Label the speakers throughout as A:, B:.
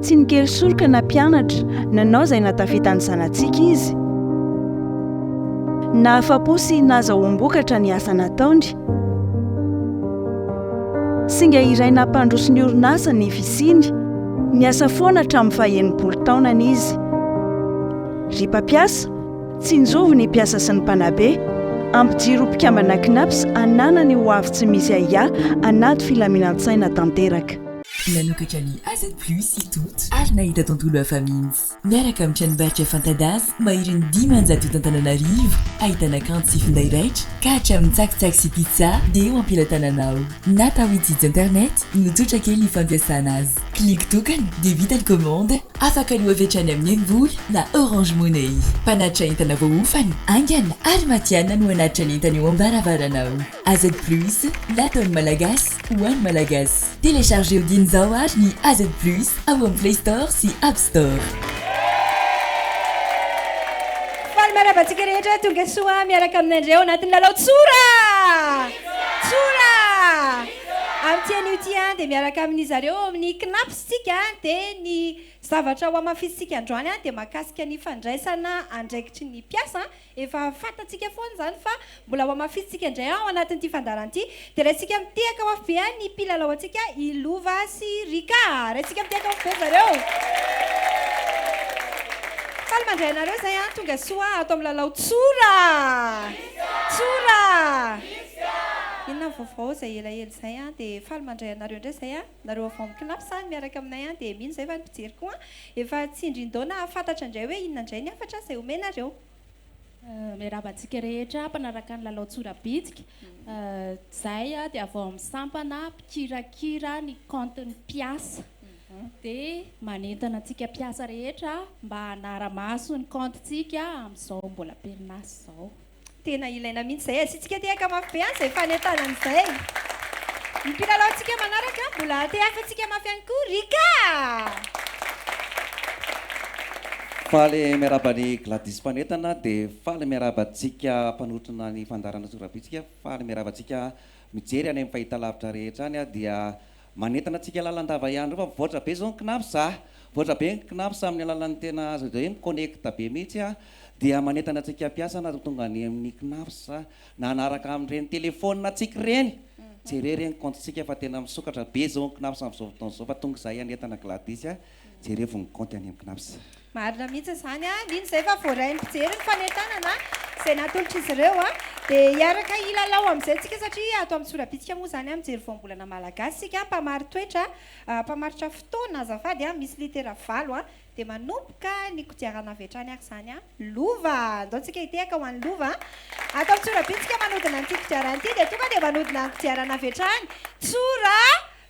A: Tsy nikely soroka na mpianatra, nanao izay nahatafitany zanatsika izy. Nahafa-po sy nahazahoam-bokatra ny asa nataony. Singa iray nampandroso ny orinasa ny fisiany. Niasa foana hatramin'ny faha enimpolo taonany izy. Ry mpampiasa, Tsinjovy ny mpiasa sy ny mpanabe, ampijiro ho mpikambana Cnaps hanana ny ho avy tsy misy ahiahy anaty filaminan-tsaina tanteraka. Nanokatra ny
B: AZ plus i Toto ary nahita tontolo hafa mihitsy. Miaraka amin'ny tranombarotra fanta-daza maherin'ny dimanjato eto Antananarivo, ahitana kanto sy finday raitra ka hatramin'ny tsakitsaky sy pizza dia eo am-pelatanana ao. Natao hitsitsy internet no tsotra kely ny fampiasana azy. Clique tokana dia vita ny commande. Afaka ny hoevetra any amin'ny mvoly na Orange Money. Mpanatitra entana voahofana, haingana ary matihanina no hanatitra ny entana eo am-baravaranao. AZ Plus, nataon'ny Malagasy ho an'ny Malagasy. Telechargeo dieny izao àry ny AZ Plus ao amin'ny Play Store sy App Store.
C: Faly manaba antsika rehetra tonga soa miaraka aminandreo anatin'ny lalao tsora tsora amin'ity anio ity dia miaraka aminizareo ao amin'ny Cnaps. Isika dia ny zavatra ho hamafisintsika androany dia mahakasika ny fandraisana andraikitry ny mpiasa. Efa fantatsika foana izany fa mbola ho hamafisintsika indray ao anatin'ity fandaharana ity. Dia raisintsika mitehaka mafy be ny mpilalao antsika, i Lova sy Rika. Raisintsika mitehaka mafy be zareo. Faly mandray anareo izay an! Tonga soa ato amin'ny lalao Tsora! Tsora! Inona ny vaovao izay elaela izay an! Dia faly mandray anareo indray izay an! Nareo avy ao amin'ny classe any miaraka aminay any dia mino izay fa ny mpijery koa efa tsindrin-daona hahafantatra indray hoe inona indray ny hafatra izay omenareo.
D: Miarahaba antsika rehetra mpanaraka ny lalao tsorabitsika. Izay dia avy ao amin'ny sampana mpikirakira ny compte ny mpiasa. Dia manentana antsika mpiasa rehetra mba hanara-maso ny compte-ntsika amin'izao mbola am-perinasa izao. Tena ilaina
C: mihitsy izay. Asiantsika tehaka mafy be an'izay fanentanana izay. Ny mpilalaontsika manaraka mbola hatehaka antsika mafy ihany koa. Rika!
E: Faly miarahaba an'i Gladys mpanentana dia faly miarahaba antsika mpanotrona ny fandaharana Sorabitsika. Faly miarahaba antsika mijery any amin'ny fahitalavitra rehetra any dia. Manentana antsika lalandava ihany ireo fa mivoatra be izao ny cnaps a! Mivoatra be ny cnaps amin'ny alalan'ny tena azo atao hoe mi-connecte be mihitsy a! Dia manentana antsika mpiasa na dia tonga any amin'ny cnaps aza na hanaraka amin'ireny telephone antsika ireny, jereo ireny compte-ntsika fa tena misokatra be izao ny cnaps amin'izao fotoana izao fa tonga izahay hanentana Gladys a! Jerevo ny kaonty any amin'ny Cnaps. Marina mihitsy
C: izany a, mino izay fa voarain'ny mpijery ny fanentanana izay natolotr'izy ireo a. Dia hiaraka hilalao amin'izay tsika satria ato amin'ny Tsorabitika moa izany a, mijery voambolana malagasy isika a, mpamari-toetra, mpamaritra fotoana azafady a, misy litera valo a. Dia manomboka ny kodiarana avy hatrany ary izany a, lova, andao tsika hitehaka ho an'ny lova a. Ato amin'ny Tsorabitika manodina an'ity kodiarana ity dia tonga dia manodina ny kodiarana avy hatrany, Tsora.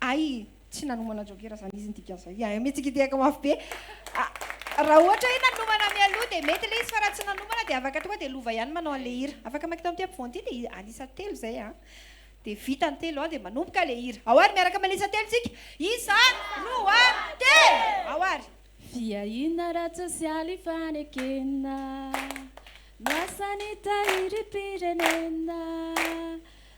C: Hay tsy nanomana jokera zany izy ny dikan'izay hay mitsikidihaka mafy be raha ohatra hoe nanomana mialoha dia mety ilay izy fa raha tsy nanomana dia afaka tonga dia lova ihany manao an'ilay hira afaka makita amin'ity ampovoany ity dia an'isa telo izay an dia vita ny telo an dia manomboka ilay hira ao ary miaraka manisa telo tsika isa roa telo ao ary Fiahiana
D: ara-tsosialy ifanekena no asan'ny Tahirim-pirenena.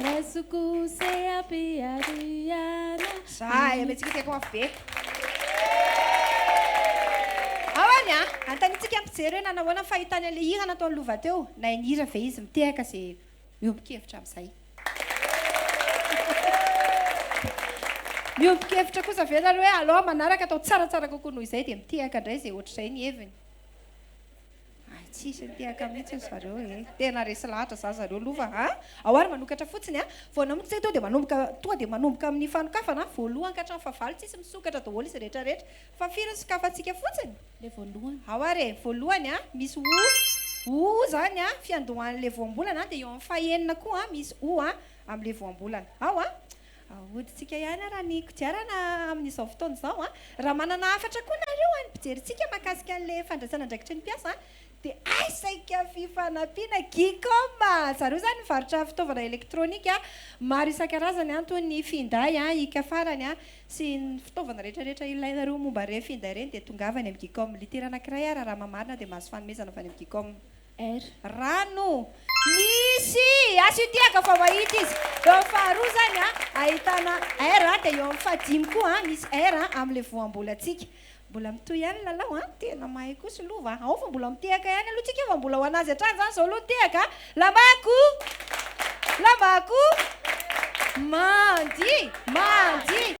D: Raisoko se api ariana. Zah eh,
C: metsika teto afo be. Ao any a! Antanintsika ny mpijery hoe nanahoana ny fahitany an'ilay hira nataon'i Lova teo? Nahay nihira ve izy? Mitehaka izay miombon-kevitra amin'izay. Miombon-kevitra kosa ve nareo hoe alao manaraka atao tsaratsara kokoa noho izay dia mitehaka indray izay ohatr'izay ny heviny? Ay tsisy nitehaka mihitsy ozy zareo ee. Tena resy lahatra za zareo lova a! Ao ary manokatra fotsiny a! Vao namonjy zay toa dia manomboka toa dia manomboka amin'ny fanokafana a! Voalohany ka hatramin'ny fahavalo tsisy misokatra daholo izy rehetra rehetra! Fa firy ny sokafantsika fotsiny? Le voalohany. Ao
D: ary e! Voalohany
C: a! Misy o! O zany a! Fiandohan'le voambolana a! Dia eo amin'ny fahenina koa a! Misy o a! Amin'le voambolana. Ao a! Ahodintsika ihany ary ny kodiarana amin'izao fotoana izao. Raha manana hafatra koa nareo any mpijery antsika mahakasika an'ilay fandraisana andraikitry ny mpiasa dia aisaka fifanampiana Gcom. Zareo izany mivarotra fitaovana elektronika maro isan-karazany toy ny finday, hiaka farany sy ny fitaovana rehetrarehetra ilainareo momba ireny finday ireny dia tongava any amin'ny Gcom. Litera anankiray ary raha mamarina dia mahazo fanomezana avy any amin'ny Gcom. Air.
D: Rano.
C: Misy asitiaka vao mahita izy. Eo amin'ny faharoa izany ahitana air dia eo amin'ny fahadimy koa misy air amin'ilay voambolantsika. Mbola mitohy ihany ny lalao an! Tena mahay kosa aloha va! Ao fa mbola mitehaka ihany aloha tsika fa mbola ho an'azy hatrany izany izao aloha ny tehaka. Lamako! Lamako! Mandia! Mandia!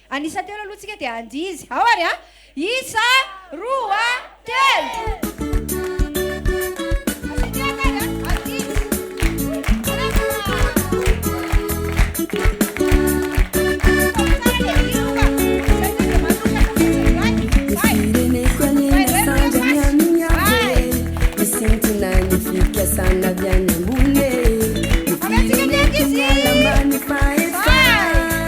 C: An'isa telo aloha tsika dia andihy izy. Ao ary a! Isa, roa, telo!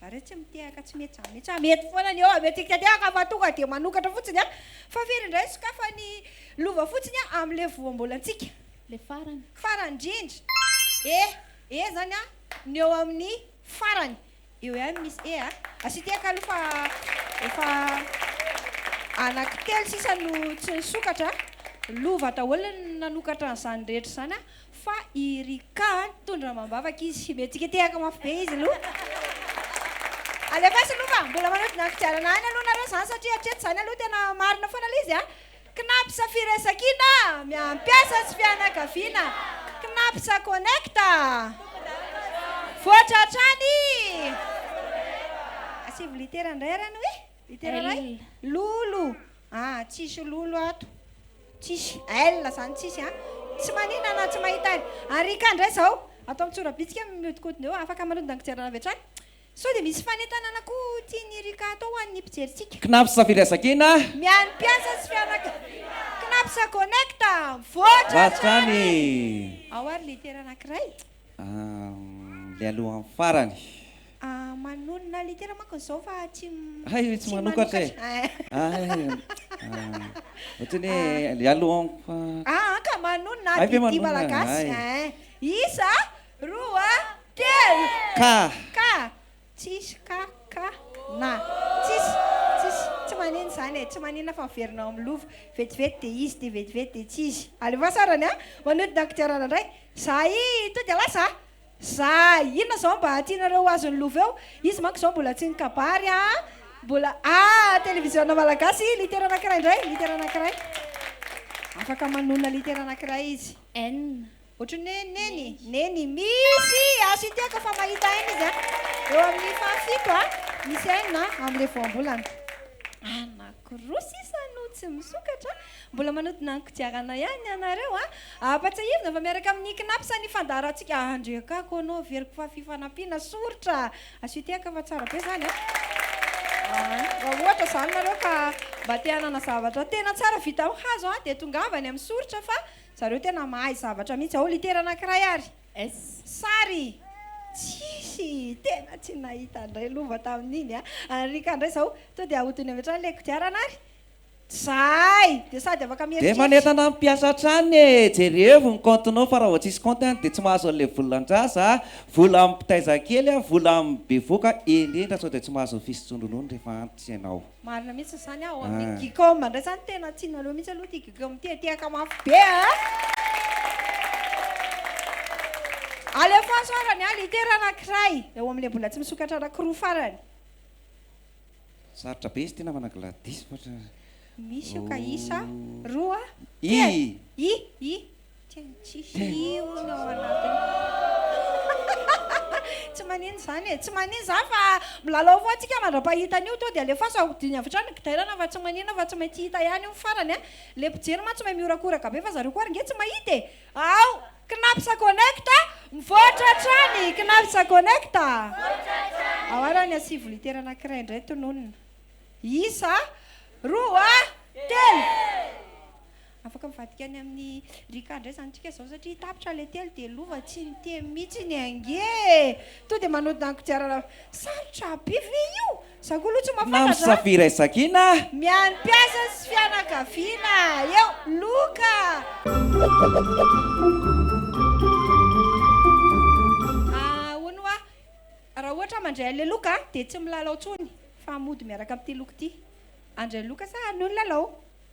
C: Zareo tsy mitehaka tsy metsamentsà mety foana ny eo avy eo tsy kitedehaka fa tonga dia manokatra fotsiny an! Fa firy indray ny sokafany lova fotsiny an amin le voambolantsika? Le farany.
D: Farany indrindra. E!
C: E izany an ny eo amin ny farany. Eo ihany no misy E a! Asia tehaka aloha fa efa anaky telo sisa no tsy nisokatra an! Lova daholo ny nanokatra an'izany rehetra izany an! Fa i Rika an, tondro amam-bavaka izy, mihetsiketehaka mafy be izy aloha. Alefaso aloha fa mbola manodina ny kodiarana any aloha nareo zany satria hatreto zany aloha tena marina foana le izy a. Cnaps Firaisankina miampiasa sy fianakaviana Cnaps Connect voatra hatrany. Asivo litera ndray ary anie. Litera-ray? Lolo! Ah, tsisy lolo ato. Tsisy. L zany tsisy a. Tsy manina na tsy mahita aina. Arika indray izao. Atao mitsorabitika mihodinkodina eo. Afaka manodina ny fijerana avy hatrany. Sao dia misy fanentanana koa tian'i Rika atao ho an'ny mpijerintsika. Cnaps Villa Zakena.
E: Mihaino mpiasa
C: sy fianakaviana. Cnaps Connect. Mivoatra hatrany. Ao ary litera anankiray. Ahm
E: le alohan'ny farany. Ah manonona
C: litera manko izao fa tsy Hay ry tsy manokatra
E: e! Hay ohatran'ny hoe le alohan'ny farany. Ah an ka manonona
C: ady didy malagasy ein! Isa, roa, telo! Ka! Ka! Tsisy ka, ka, na. Tsisy, tsisy, tsy manina izany e, tsy manina fa miverina ao amin'ny lova. Vetivety dia izy dia vetivety dia tsy izy. Alefaso sarany a! Manodina ny kodiarana indray. Za i Tody ialahy za! Za inona izao mba tianareo ho azon'ny lova eo? Izy manko izao mbola tsy nikabary a! Mbola, ah! Televiziona malagasy, litera anankiray indray, litera anankiray. Afaka manonona litera anankiray izy. N. Ohatry
D: ny hoe
C: neny, neny, misy aso ity aho kofa mahita aina izy an! Eo amin'ny fahafito an! Misy aina amin'ilay voambolana. Anankiroa sisa no tsy misokatra. Mbola manodina ny kodiarana ihany ianareo an! Ampatsiahivina fa miaraka amin'ny Cnaps ny fandaharantsika Andriakako anao averiko fa fifanampiana soritra aso ity aho kofa tsara be izany an! Raha ohatra izany nareo ka mba te hanana zavatra tena tsara vita amin'ny hazo an! Dia tongava any amin'ny soritra fa Zareo tena mahay zavatra mihitsy. Ao litera anankiray ary. S. Sary. Tsisy. Tena tsy nahita indray lova tamin'iny a. An'i Rika indray izao. Tonga dia ahodiny avy hatrany ilay kodiarana ary. Zahay. Dia sady afaka mieritreritra. Dia manentana ny mpiasa
E: hatrany e, jerevo ny kaontinao fa raha vao tsisy kaonty any dia tsy mahazo an'ilay volan-jaza, vola amin'ny mpitaiza kely, vola amin'ny bevoka indrindra sao dia tsy mahazo ny fisotroan-dronono rehefa antitra ianao. Marina mihitsy izany
C: ao amin'ny gcom ndray zany tena tianareo mihitsy aloha ity gcom ity e, tehaka mafy be a! Alefaso ara ny a litera anankiray eo amin'ilay mbola tsy misokatra anankiroa farany. Sarotra
E: be izy ity namana Gladys fa. Misy
C: io ka isa roa, telo,
E: i, i.
C: Tena tsisy iono ao anatiny. Tsy manino izany e, tsy manino izany fa milalao foana tsika mandra-pahita an'io to dia alefaso ahodiny avy hatrany ny gidairana fa tsy manino fa tsy maintsy hita ihany io ny farany a. Ilay mpijery mantsy mahay mihorakoraka be fa zareo koa ary nge tsy mahita e. Ao! Knaps connect a! Mivoatra hatrany Knaps connect a! Ao ary ny ansivo litera anankiray indray tononina. Isa a! Roa a! Telo! Afaka mivadika any amin'i Rika indray izany tsika izao satria tapitra ilay telo dia lova tsy niteny mihitsy ny ange e! Tonga dia manodina ny kodiarana Sarotra be ve io? Izaho koa aloha tsy mahafantatra a! Namsa Firay Sakina
E: a! Mihaino mpiasa
C: sy fianakaviana eo! Loka a! Ahoana hoa? Raha ohatra aho mandray an'ilay loka dia tsy milalao intsony fa mody miaraka amin'ity loka ity. Andray loka sa anio ny lalao?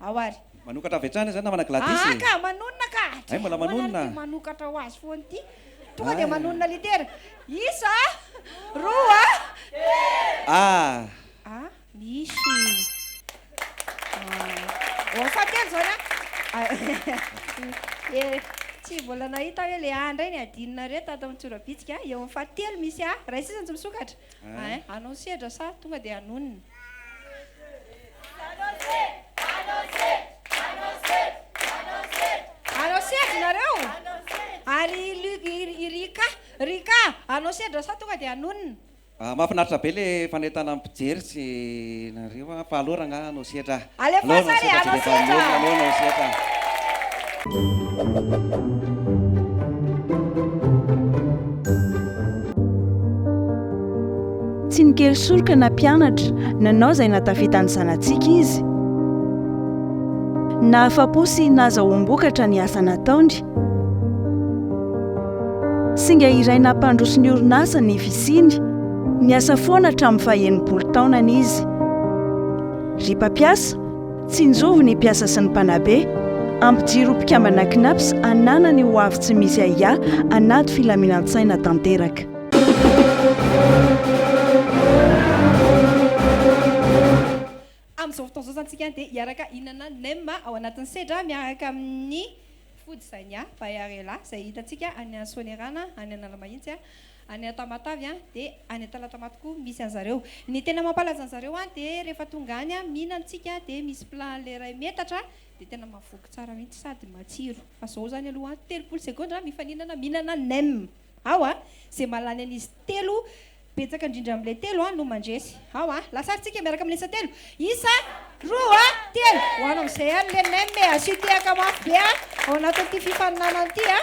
C: Ao ary. Manokatra avy hatrany izay namana
E: Gladys e! Aa ka! Manonona ka!
C: Hay mbola manonona! Dia
E: manokatra ho azy foana
C: ity. Tonga dia manonona litera. Isa a! Roa a! Telo! Aa! A! Misy! Aa! Ô! Fahatelo izany a! A! E! Tsy mbola nahita hoe le A indray ny adinonareo tato amin'ny tsorabitsika. Eo amin'ny fahatelo misy A. Iray sisa no tsy misokatra. Hein? Anao sedra sa tonga dia hanonona? Anao sedra nareo? Ary i Rika? Rika, anao sedra sa tonga dia hanonona? Mahafinaritra be
E: le fanentanan'ny mpijery sy nareo fa alora angaha hanao sedra? Alefaso
C: ary anao setra.
A: Tsy nikely soroka na mpianatra, nanao izay nahatafita ny zanatsika izy. Nahafa-po sy nahazahoam-bokatra ny asa nataony. Singa iray nampandroso ny orinasa ny fisiany. Niasa foana hatramin'ny faha-enimpolo taonany izy. Ry mpampiasa, tsinjovy ny mpiasa sy ny mpanabe. Ampijiro ho mpikambana Cnaps hananany ho avy tsy misy ahiahy anaty filaminan-tsaina tanteraka.
C: Amin'izao fotoana izao izany isika dia hiaraka hihinana nem ao anatin'ny sedra miaraka amin'ny Food Zania by Arela izay hitantsika any Soanierana any Analamahitsy. any à Tamatave an de any à Talatamaty koa misy anzareo. Ny tena mampalaza anzareo any de rehefa tonga any an mihina antsika de misy plat anle iray metatra de tena mavoky tsara mihitsy sady matsiro fa zao zany aloha an telopolo segondra mifaninana mihinana nem ao a ze mahalany an'izy telo betsaka indrindra amle telo an no mandresy. Ao a! Lasary tsika miaraka amin'ny isa telo. Isa, roa, telo. Ho anao amin'izay ihany le nem e. Asio tehaka mafy be a, ao anatin'ity fifaninanana ity a.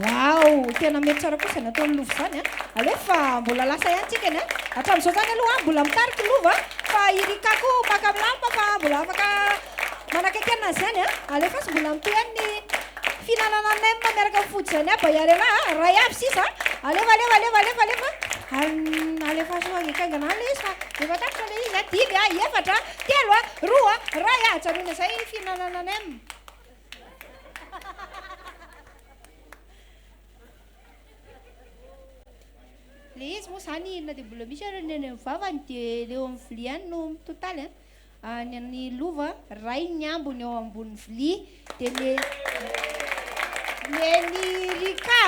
C: Waouh! Tena mety tsara kosa ny ataon'i Lova izany a. Alefa mbola lasa ihany tsika ny a. Hatramin'izao izany aloha mbola mitarika i Lova fa i Rika koa maka milamina fa mbola afaka Manakaiky anay zany a! Alefaso mbola ampeany ny fihinanana nem miaraka amin'ny food zany aby ahiary anah a! Ray aby sisa a! Alefa alefa alefa alefa alefa an! Alefaso haingaikaingana any le izy fa efa tapitra le izy a! Dimy a! Efatra a! Telo a! Roa a! Ray a! Ajanony izay ny fihinanana nem. Le izy moa zany inona dia mbola misy ary ny any amin'ny vavany dia le eo amin'ny vilia any no mitotaly a! Any amin'ny lova, rainy ny ambiny eo ambony vilia, dia ny ny an'i Rika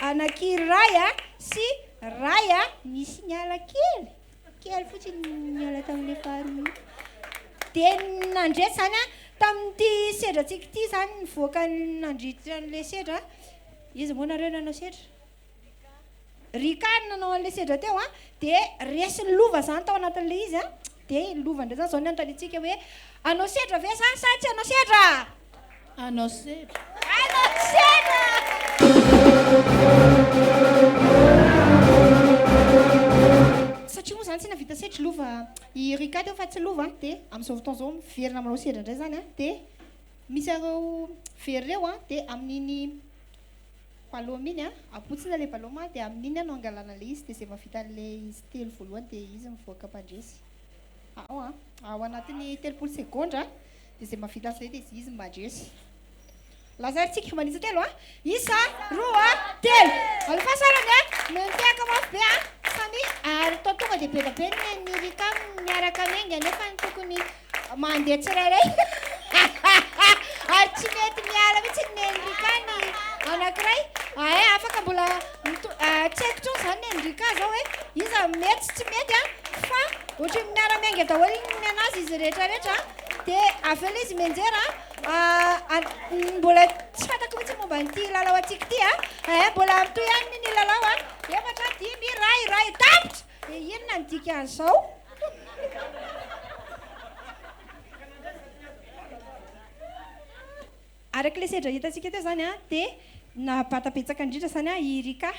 C: anankiray sy ray nisy niala kely, kely fotsiny niala tamin'ilay faharoa. Dia nandresy izany tamin'ity sedratsika ity izany nivoaka nandritra an'ilay sedra, iza moa nareo nanao sedra? Rika no nanao an'ilay sedra teo a, dia resy ny lova izany tao anatin'ilay izy a, dia iny lova indray izany izao no anontaniantsika hoe hanao sedra ve za sa tsy hanao sedra? Hanao
D: sedra. Hanao sedra!
C: Satria moa izany tsy nahavita sedry lova i Rika teo fa tsy lova a, dia amin'izao fotoana izao miverina manao sedra indray izany a, dia misy an'ireo very ireo a, dia amin'iny Valôme iny a, abotsina le valôme a de amin'iny a no angalana le izy de ze mavita anle izy telo voalohany de izy mivoaka mpandresy ao a, ao anatin'ny telopolo segondra de ze mavita anzay de izy mandresy. Lazary tsika mba nitsa telo a, isa, roa, telo, alefa sarany a, mitehaka mafy be a, samia ary toa tonga de beda be ny an'i Rika miaraka amy enga nefa ny tokony Mandeha tsirairay ary tsy mety miala mihitsy ny Enrika ny anankiray. Ahay afaka mbola tsy haiko tsony zany ny Enrika zao hoe iza mety sy tsy mety a fa ohatry ny miara miainga daholo ny nenazy izy rehetra rehetra de avy eo le izy menjera mbola tsy fantako mihitsy momba an'ity lalao antsika ity a mbola mitohy ihany ny lalao a efatra dimy iray iray tapitra Dia inona ny dikan'izao? Araka ilay sedra hitantsika teo izany an, dia nahabata betsaka indrindra izany an i Rika.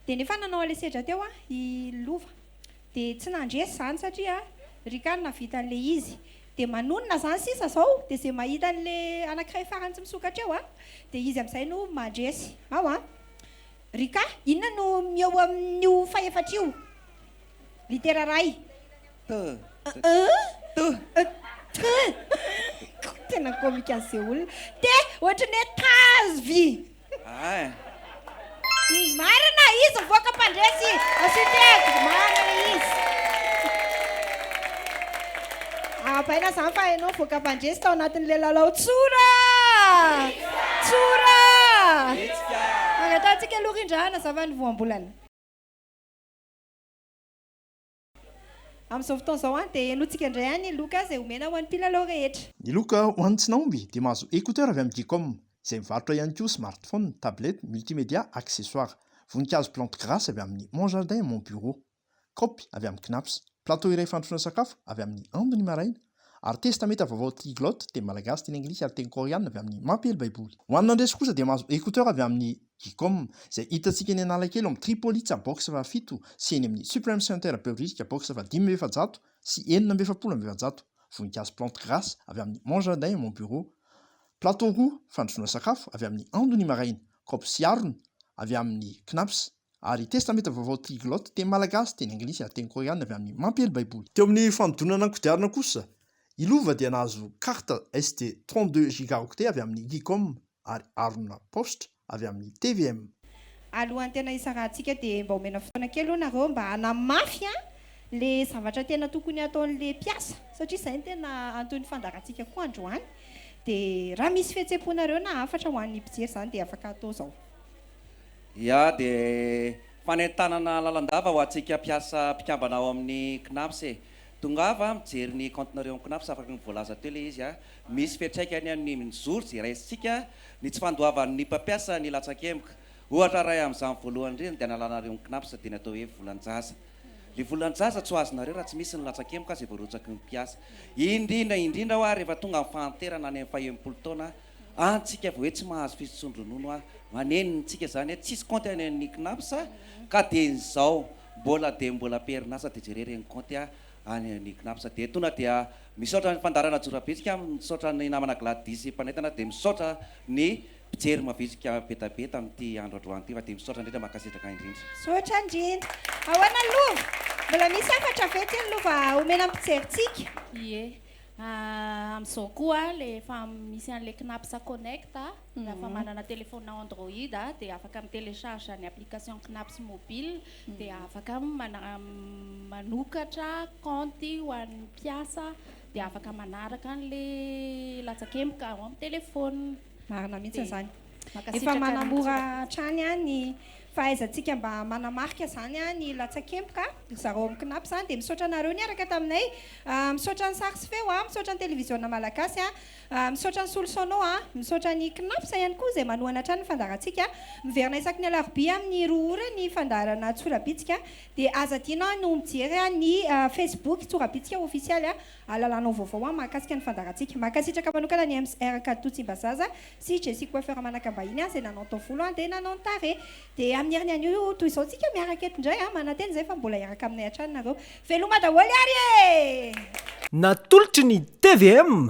C: Dia nefa nanao an'ilay sedra teo an i Lova. Dia tsy nandresy izany satria Rika no nahavita an'ilay izy. Dia manonona izany sisa izao, dia izay mahita an'ilay anankiray farany tsy misokatra eo an, dia izy amin'izay no mandresy. Ao an. Rika, inona no mieo amin'io fahefatra io? Litera ray. T. T. T. Tena comique an'i Seoul. T, ohatry ny hoe tazo vy. Ay. Marina, izy mivoaka mpandresy. Architecte, marina ilay izy. Ahabaina izany fa hainao nivoaka mpandresy tao anatin'ilay lalao tsora! Tsora! Hetsika! Angatahantsika aloha rindra hanazava ny voambolana. Amin'izao fotoana izao an, dia henointsika indray an ny loka izay omena ho an'ny mpilalao rehetra. Ny loka ho an'ny tsy
F: nahomby dia mahazo écouteur avy amin'ny Geecom, izay mivarotra ihany koa smartphone, tablette, multimédia, accessoires. Voninkazo plante grasse avy amin'ny Mon Jardin, Mon Bureau. kaopy avy amin'ny Cnaps, plateau iray fandrosoana sakafo avy amin'ny Ando ny maraina, ary Testamenta Vaovao Triglot, teny malagasy, teny anglisy ary teny koreanina avy amin'ny Mampiely Baiboly. Ho an'ny nandresy kosa dia mahazo écouteurs avy amin'ny Gecom, izay hitantsika eny Analakely ao amin'ny Tripolitsa box fahafito sy eny amin'ny Supreme Center Behoririka box fahadimy amby efajato sy enina amby efapolo amby efajato, Voninkazo Plante Grace avy amin'ny Mon Jardin et Mon Bureau, plateau roa fandrosoana sakafo avy amin'ny Ando ny maraina, kaopy sy harona avy amin'ny Cnaps, ary Testamenta Vaovao Triglot, teny malagasy, teny anglisy, ary teny koreana avy amin'ny Mampiely Baiboly. Teo amin'ny fanodinana ny kodiarana kosa, i Lova dia nahazo carte SD 32 gigaoctets avy amin'ny Geekom ary harona paositra avy amin'ny tvm. Alohan'ny
C: tena hisarahantsika dia mba omena fotoana kely hono nareo mba hanamafy le zavatra tena tokony hataon'le mpiasa satria zay no tena anton'ny fandaharantsika koa androany dia raha misy fihetsem-ponareo na hafatra ho an'ny mpijery zany dia afaka atao zao. Ia
E: dia fanentanana lalandava ho antsika mpiasa mpikambana ao amin'ny Cnaps e! Tongava mijery ny kaontinareo amin'ny Cnaps afaka ny voalaza teo ilay izy a! Misy fiantraikany amin'ny mijoro izay raisintsika ny tsy fandoavan'ny mpampiasa ny latsakemboka. Ohatra iray amin'izany voalohany indrindra dia analanareo ny Cnaps dia ny atao hoe volan-jaza. Ilay volan-jaza tsy ho azonareo raha tsy misy ny latsakemboka izay voarotsaky ny mpiasa. Indrindra indrindra hoa rehefa tonga ny fahanterana any amin'ny faha enimpolo taona An tsika vao hoe tsy mahazo fisotson-dronono a! Maneno ny tsika zany hoe tsisy kaonty any amin'ny Cnaps a! Ka dia ny zao mbola dia mbola am-perinasa dia jereo ireny kaonty a! any amin'ny Cnaps dia tona dia misaotra ny fandaharana Jorabitsika a! misaotra ny namana Gladys mpanentana dia misaotra ny mpijery mavitrika betabe tamin'ity andro androany ity fa dia misaotra indrindra mankasitraka indrindra. Misaotra indrindra.
C: Ahoana ny lova? Mbola misy hafatra vetsy ny lova omena ny mpijerintsika? Ie.
D: Amin'izao koa le efa misy an'le Knapsa Connect a, raha efa manana telephone Android a dia afaka mi-telecharge ny application Knapsa mobile dia afaka manokatra kaonty ho an'ny mpiasa dia afaka manaraka an'le latsakemboka ao amin'ny telephone. Marina mihitsy izany.
C: Efa manamora hatrany ny fahaizantsika mba manamarika izany ny latsakemboka. Ry zareo amin'ny Cnap izany dia misaotra anareo niaraka taminay. Misaotra ny sary sy feo, misaotra ny televiziona malagasy, misaotra ny solosaonao, misaotra ny Cnaps ihany koa izay manohana hatrany ny fandaharantsika. Miverina isaky ny alarobia amin'ny roa ora ny fandaharana Tsorabitsika dia aza adino ny mijery ny Facebook Tsorabitsika ofisialy Alalanao vaovao an mahakasika ny fandaharantsika. Mankasitraka manokana an'i MR Kaditou Tsimbazaza sy Jessie Coiffeur manaka mbahiny an, zay nanao ny taovolo an dia nanao ny tarehy. Dia amin'ny heriny anio toy izao tsika miaraka eto indray an, manantena izay fa mbola hiaraka aminay hatrany nareo. Veloma daholo ary e! Natolotry
G: ny tvm